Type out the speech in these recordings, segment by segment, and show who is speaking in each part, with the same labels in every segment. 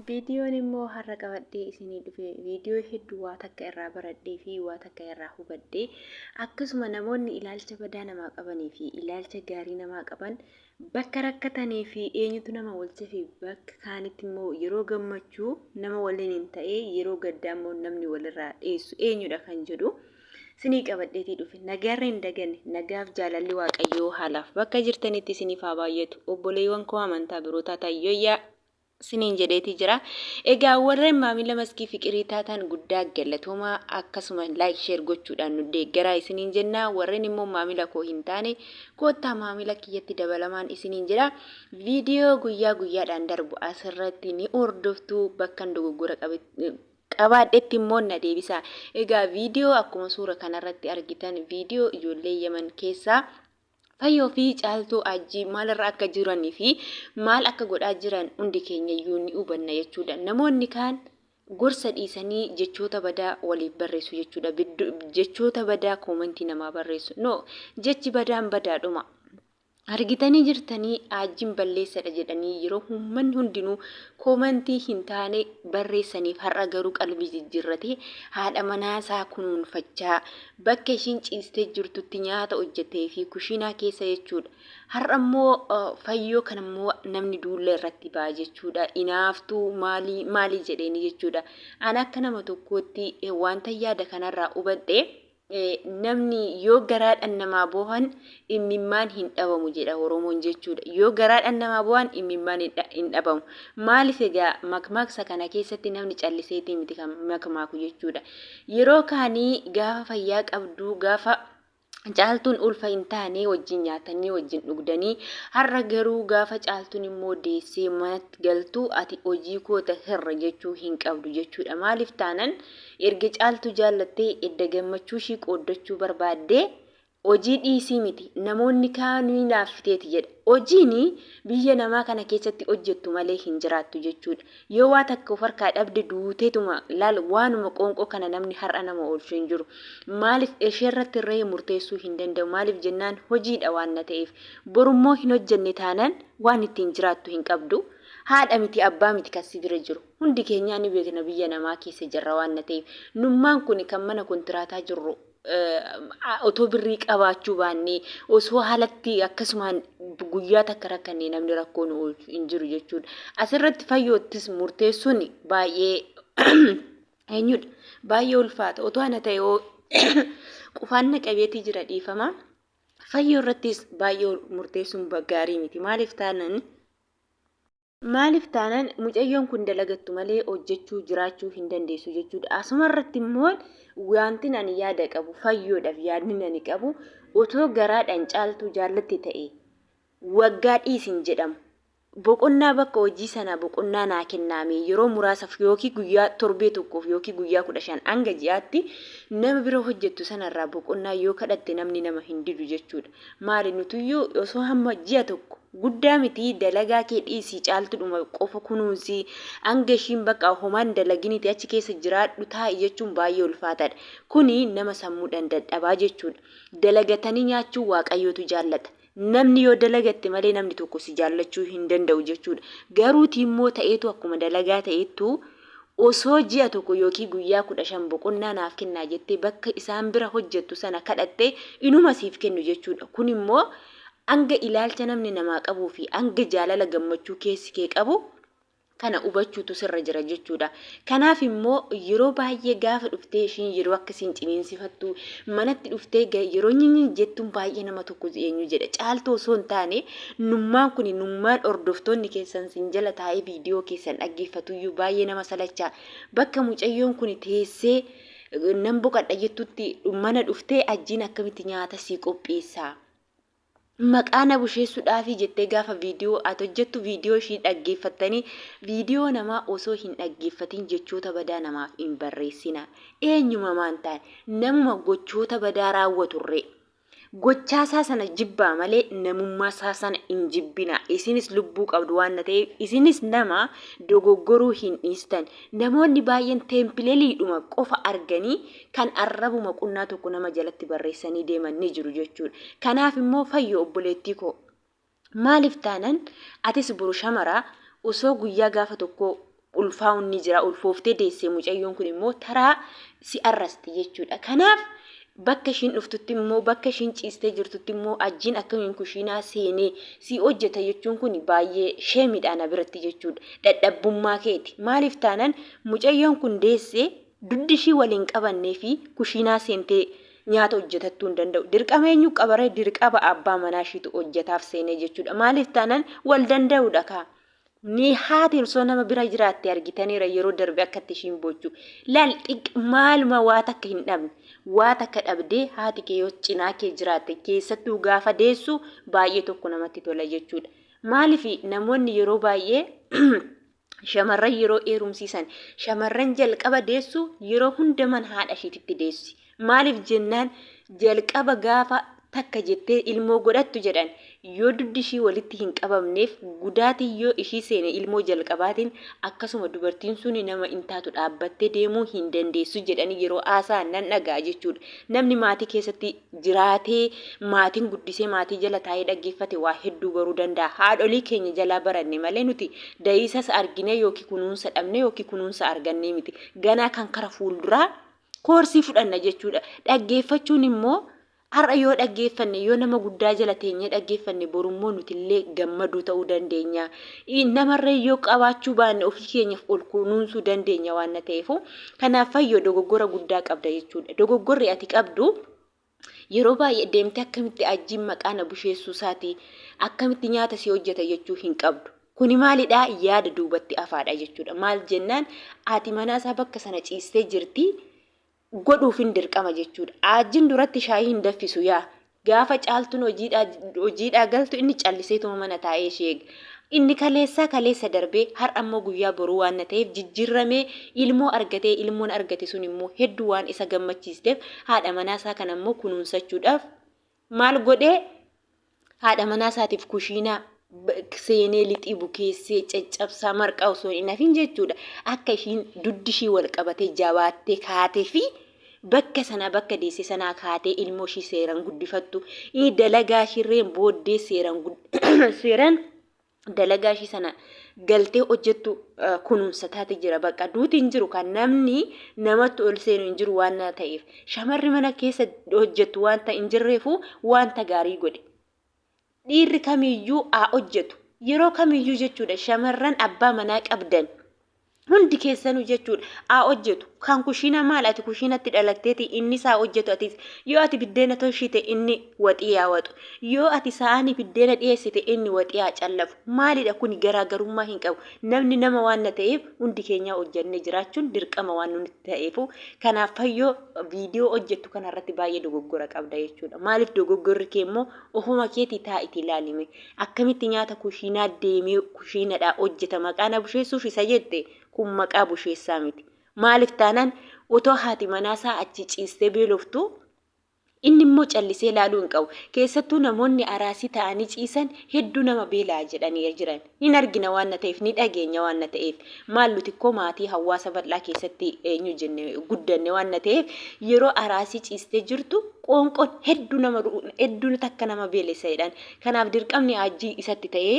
Speaker 1: Viidiyoon immoo har'a qabadhee isinii dhufe viidiyoo hedduu waa takka irraa baradhee fi waa takka irraa hubadhe akkasuma namoonni ilaalcha badaa namaa qabanii fi ilaalcha gaarii namaa qaban bakka rakkatanii fi eenyutu nama walcha fi bakka kaanitti immoo yeroo gammachuu nama waliin hin ta'ee yeroo gaddaa immoo namni walirraa dheessu eenyudha kan jedhu sinii qabadheetii dhufe nagaarra hin daganne nagaaf jaalalli waaqayyoo haalaaf bakka jirtanitti isiniif haa baay'atu obboleewwan koo amantaa birootaa taayyoyyaa siniin jedheetii jira. Egaa warreen maamila maskii fiqirii taataan guddaa galatoomaa akkasuma like share gochuudhaan nu deeggaraa isiniin jenna warreen immoo maamila koo hin taane koottaa maamila kiyyatti dabalamaan isiniin jedha viidiyoo guyyaa guyyaadhaan darbu asirratti ni hordoftu bakkan dogoggora qabaadhetti immoo na deebisaa egaa viidiyoo akkuma suura kanarratti argitan viidiyoo ijoollee yaman keessaa Fayyoo fi Caaltuu Ajjii maalirra akka jiran fi maal akka godhaa jiran hundi keenyayyuu ni hubanna jechuudha. Namoonni kaan gorsa dhiisanii jechoota badaa waliif barreessu jechuudha. Jechoota badaa koomantii namaa barreessu. No, jechi badaan badaadhuma. Argitanii jirtanii aajjiin balleessadha jedhanii yeroo uummanni hundinuu koomantii hin taane barreessaniif har'a garuu qalbii jijjiirratee haadha manaasaa kunuunfachaa Bakka ishiin ciistee jirtutti nyaata hojjeteefii kushiinaa keessa jechuudha. Har'a immoo fayyoo kana immoo namni duulla irratti ba'a jechuudha. Inaaftuu maalii maalii jedheeni jechuudha. Ani akka nama tokkootti wanta yaada kanarraa hubadhe namni yoo garaadhaan namaa boohan Immimmaan hin dhabamu jedha Oromoon jechuudha. Yoo garaadhaan namaa boo'an immimmaan hin dhabamu. Maaliif egaa makmaaksa kana keessatti namni calliseetii miti kan makmaaku jechuudha. Yeroo kaanii gaafa fayyaa qabduu gaafa caaltuun ulfa hin taanee wajjin nyaatanii wajjin dhugdanii har'a garuu gaafa caaltuun immoo deessee manatti galtu ati hojii koota hirra jechuu hin qabdu jechuudha maaliif taanan erga caaltuu jaallattee edda gammachuu ishii qooddachuu barbaaddee Hojii dhiisii miti namoonni kaan ni hinaaffiteeti jedha. Hojiin biyya namaa kana keessatti hojjettu malee hin jiraattu jechuudha. Yoo waa takka of harkaa dhabde duuteetuma laal waanuma qoonqoo kana namni har'a nama oolchu hin jiru. Maaliif isheerratti irree murteessuu hin danda'u maaliif jennaan hojiidha waanna ta'eef. Borummoo hin hojjenne taanaan waan ittiin jiraattu hin qabdu. Haadha miti abbaa miti kan si bira jiru. Hundi keenyaa ni beekna biyya namaa keessa jirra waanna ta'eef. Nummaan kuni kan mana kontiraataa jirru otoo birrii qabaachuu baannee osoo haalatti akkasumaan guyyaa takka rakkannee namni rakkoo nu oolchu hin jiru jechuudha. Asirratti fayyoottis murteessuun baay'ee eenyudha baay'ee ulfaata otoo ana ta'e hoo qufaan na qabeetii jira dhiifama. Fayyoo irrattis baay'ee murteessuun gaarii miti maaliif taanan Maaliif taanaan mucayyoon kun dalagattu malee hojjechuu jiraachuu hin dandeessu jechuudha. Asuma irratti immoo wantin ani yaada qabu fayyoodhaaf yaadni ani qabu otoo garaadhaan caaltuu jaallatti ta'e waggaa dhiisin jedhamu. Boqonnaa bakka hojii sanaa boqonnaa naa kennaame yeroo muraasaaf yookiin guyyaa torbee tokkoof yookiin guyyaa kudha shan hanga ji'aatti nama bira hojjettu sanarraa boqonnaa yoo kadhatte namni nama hin didu jechuudha. Maali nutuyyuu osoo hamma ji'a tokko guddaa miti dalagaa kee dhiisii caaltudhuma qofa kunuunsi hanga ishiin bakka homaan dalaginiti achi keessa jiraadhu taa'i jechuun baay'ee ulfaataadha. Kuni nama sammuudhaan dadhabaa jechuudha. Dalagatanii nyaachuu waaqayyootu jaallata. Namni yoo dalagatte malee namni tokko si jaallachuu hin danda'u jechuudha. Garuuti immoo ta'eetu akkuma dalagaa ta'eettu Osoo ji'a tokko yookiin guyyaa kudha shan boqonnaa naaf kennaa jettee bakka isaan bira hojjettu sana kadhatte inuma siif kennu jechuudha. Kun immoo hanga ilaalcha namni namaa qabuu fi hanga jaalala gammachuu keessi kee qabu kana hubachuutu sirra jira jechuudha. Kanaaf immoo yeroo baay'ee gaafa dhuftee ishiin yeroo akka siin ciniinsifattu manatti dhuftee yeroo nyinyi jettuun baay'ee nama tokko eenyu jedha. Caaltuu osoo hin taane Nummaan kuni nummaan hordoftoonni keessan sin jala taa'ee viidiyoo keessan dhaggeeffatuyyuu baay'ee nama salachaa. Bakka mucayyoon kuni teessee nan boqadha jettutti mana dhuftee ajjiin akkamitti nyaata sii qopheessaa. Maqaa na busheessuudhaafii jettee gaafa viidiyoo ati hojjettu viidiyoo ishii dhaggeeffattanii viidiyoo namaa osoo hin dhaggeeffatiin jechoota badaa namaaf hin barreessina. Eenyuma maan taane namuma gochoota badaa raawwaturree. Gochaa isaa sana jibbaa malee namummaa isaa sana hin jibbinaa. Isinis lubbuu qabdu waan ta'eef isinis nama dogoggoruu hin dhiistan. Namoonni baay'een teempileeliidhuma qofa arganii kan arrabuma qunnaa tokko nama jalatti barreessanii deeman ni jiru jechuudha. Kanaaf immoo fayyoo obboleettii koo Maaliif taanan atis boru shamara osoo guyyaa gaafa tokko ulfaa'uun ni jira ulfooftee deessee mucayyoon kun immoo taraa si arrasti jechuudha. Kanaaf bakka ishiin dhuftutti immoo bakka ishiin ciistee jirtutti immoo ajjiin akkamiin kushiinaa seenee si hojjeta jechuun kun baay'ee sheemidha na biratti jechuudha. Dadhabbummaa keeti. Maaliif taanan mucayyoon kun deessee dugdi ishii waliin qabannee fi kushiinaa seentee Nyaata hojjetattuu hin danda'u. Dirqama eenyu qabaree dirqaba abbaa manaa ishiitu hojjetaaf seenee jechuudha. Maaliif taanaan wal danda'uudha kaa. Ni haati osoo nama bira jiraatte argitaniira yeroo darbe akkatti ishiin boochu. Laal xiq maaluma waa takka hin dhabne. Waa takka dhabdee haati kee yoo cinaa kee jiraatte keessattuu gaafa deessu baay'ee tokko namatti tola jechuudha. Maaliif namoonni yeroo baay'ee Shamarran yeroo heerumsiisan shamarran jalqaba deessu yeroo hunda mana haadha ishiititti deessi. Maaliif jennaan jalqaba gaafa takka jettee ilmoo godhattu jedhan yoo duddi ishii walitti hin qabamneef gudaatiin yoo ishii seene ilmoo jalqabaatiin akkasuma dubartiin suni nama hin taatu dhaabbattee deemuu hin dandeessu jedhanii yeroo haasa'an nan dhaga'a jechuudha. Namni maatii keessatti jiraatee maatiin guddisee maatii jala taa'ee dhaggeeffate waa hedduu baruu danda'a. Haadholii keenya jalaa baranne malee nuti da'iisas arginee yookiin kunuunsa dhabne yookiin kunuunsa argannee miti. Ganaa kan kara fuulduraa koorsii fudhanna jechuudha. Dhaggeeffachuun immoo har'a yoo dhaggeeffanne yoo nama guddaa jala teenyee dhaggeeffanne borummoo nutillee gammadoo ta'uu dandeenya. Namarree yoo qabaachuu baanne ofii keenyaaf ol kunuunsuu dandeenya waan ta'eef Kanaaf fayyoo dogoggora guddaa qabda jechuudha. Dogoggorri ati qabdu yeroo baay'ee deemtee akkamitti ajjiin maqaa na busheessuu isaatii akkamitti nyaata si hojjeta jechuu hin qabdu. Kuni maalidhaa yaada duubatti afaadha jechuudha. Maal jennaan ati manaa isaa bakka sana ciistee jirti godhuufin dirqama jechuudha. Ajjiin duratti shaayii hin daffisu yaa Gaafa caaltuun hojiidhaa galtu inni calliseetuma mana taa'ee ishee eega. Inni kaleessaa kaleessa darbee har'a immoo guyyaa boruu waan na ta'eef jijjiirramee ilmoo argatee ilmoon argate sun immoo hedduu waan isa gammachiisteef haadha manaa isaa kana immoo kunuunsachuudhaaf maal godhee haadha manaa isaatiif kushiinaa seenee lixii bukeessee caccabsaa marqaa osoo hin hafin jechuudha akka ishiin duddi ishii wal qabatee jabaattee kaatee fi bakka sanaa bakka deesse sanaa kaatee ilmoo ishii seeraan guddifattu inni dalagaa ishirreen booddee seeraan seeraan dalagaa ishii sana galtee hojjettu kunuunsa taate jira bakka duuti hin jiru kan namni namatti ol seenu hin jiru waan ta'eef shamarri mana keessa hojjettu wanta hin jirreefu wanta gaarii godhe. dhiirri kamiyyuu haa hojjetu. Yeroo kamiyyuu jechuudha shamarran abbaa manaa qabdan hundi keessanuu jechuudha haa hojjetu. Kan kushiinaa maal ati kushiinatti dhalatteeti innis haa hojjetu atis. Yoo ati biddeena tolchite inni waxii haa waxu. Yoo ati saanii biddeena dhiyeessite inni waxii haa callafu. Maalidha kuni garaagarummaa hin qabu. Namni nama waan na ta'eef hundi keenyaa hojjennee jiraachuun dirqama waan nuti ta'eefu. Kanaaf fayyoo viidiyoo hojjettu kanarratti baay'ee dogoggora qabda jechuudha. Maaliif dogoggorri kee immoo Ofuma keetii taa'iti ilaali mee. Akkamitti nyaata kushiinaa deemee kushiinadhaa hojjeta maqaa na busheessuuf isa jette kun maqaa busheessaa miti. Maaliif taanaan otoo haati manaasaa achi ciistee beeloftuu inni immoo callisee ilaaluu hin qabu. Keessattuu namoonni araasii ta'anii ciisan hedduu nama beela'a jedhanii jiran. Ni argina waanna ta'eef, ni dhageenya waanna ta'eef. Maal nuti kko maatii hawwaasa bal'aa keessatti eenyu jenne guddanne waanna ta'eef yeroo araasii ciistee jirtu qoonqoon heddu nama heddu takka nama beelessa jedhan. Kanaaf dirqamni Haajjii isatti ta'ee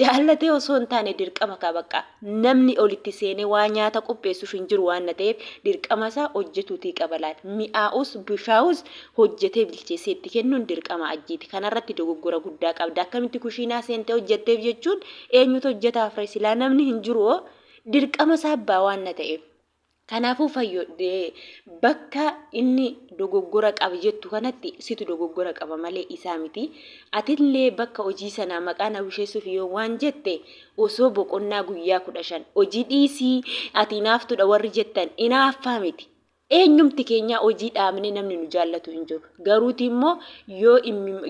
Speaker 1: jaallatee osoo hin taane dirqama kaa baqqa namni ol itti seenee waa nyaata qopheessuuf hin jiru waanna ta'eef dirqama isaa hojjetuutii qaba laata. Mi'aawus bushaawus hojjetee bilcheessee itti kennuun dirqama ajjiiti. Kanarratti dogoggora guddaa qabda. Akkamitti kushiinaa seentee hojjetteef jechuun eenyutu hojjetaaf ree? Silaa namni hin jiru hoo dirqama isaa abbaa waan na ta'eef. Kanaafuu fayyo bakka inni dogoggora qaba jettu kanatti situ dogoggora qaba malee isaa miti. Atillee bakka hojii sanaa maqaa na busheessuuf yoo waan jette osoo boqonnaa guyyaa kudha shan hojii dhiisii ati inaaftudha warri jettan inaaffaa miti. Eenyumti keenyaa hojii dhaabnee namni nu jaallatu hin jiru. Garuuti immoo yoo,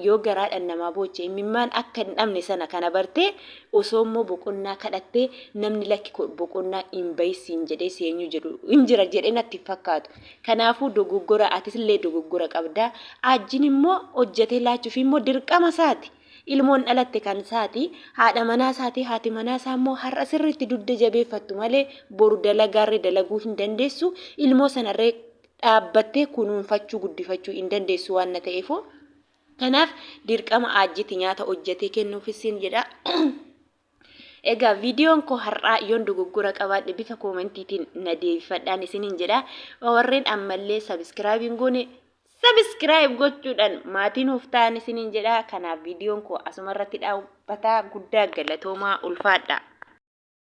Speaker 1: yoo garaadhaan namaa booche immimmaan akka hin dhabne sana kana bartee osoo immoo boqonnaa kadhattee namni lakki boqonnaa hin bahi siin jedhee si eenyu jedhu hin jira jedhee natti hin fakkaatu. Kanaafuu dogoggora atis illee dogoggora qabda. Aajjiin immoo hojjetee laachuuf immoo dirqama isaati. Ilmoon dhalatte kan isaati. Haadha manaa isaati. Haati manaa isaa immoo har'a sirriitti dugda jabeeffattu malee boru dalagaarree dalaguu hin dandeessu. Ilmoo sanarree dhaabbattee kunuunfachuu guddifachuu hin dandeessu waan na ta'eefuu. Kanaaf dirqama aajjiti nyaata hojjetee kennuufis siin jedha. Egaa viidiyoon koo har'aa yoon dogoggora qabaadhe bifa koomentiitiin na deebifadhaan isiniin jedha. Warreen ammallee sabiskiraayib hin goone sabiskiraayib gochuudhaan maatii nuuf ta'an isiniin jedha. Kanaaf viidiyoon koo asuma irratti dhaabbataa guddaa galatoomaa ulfaadha.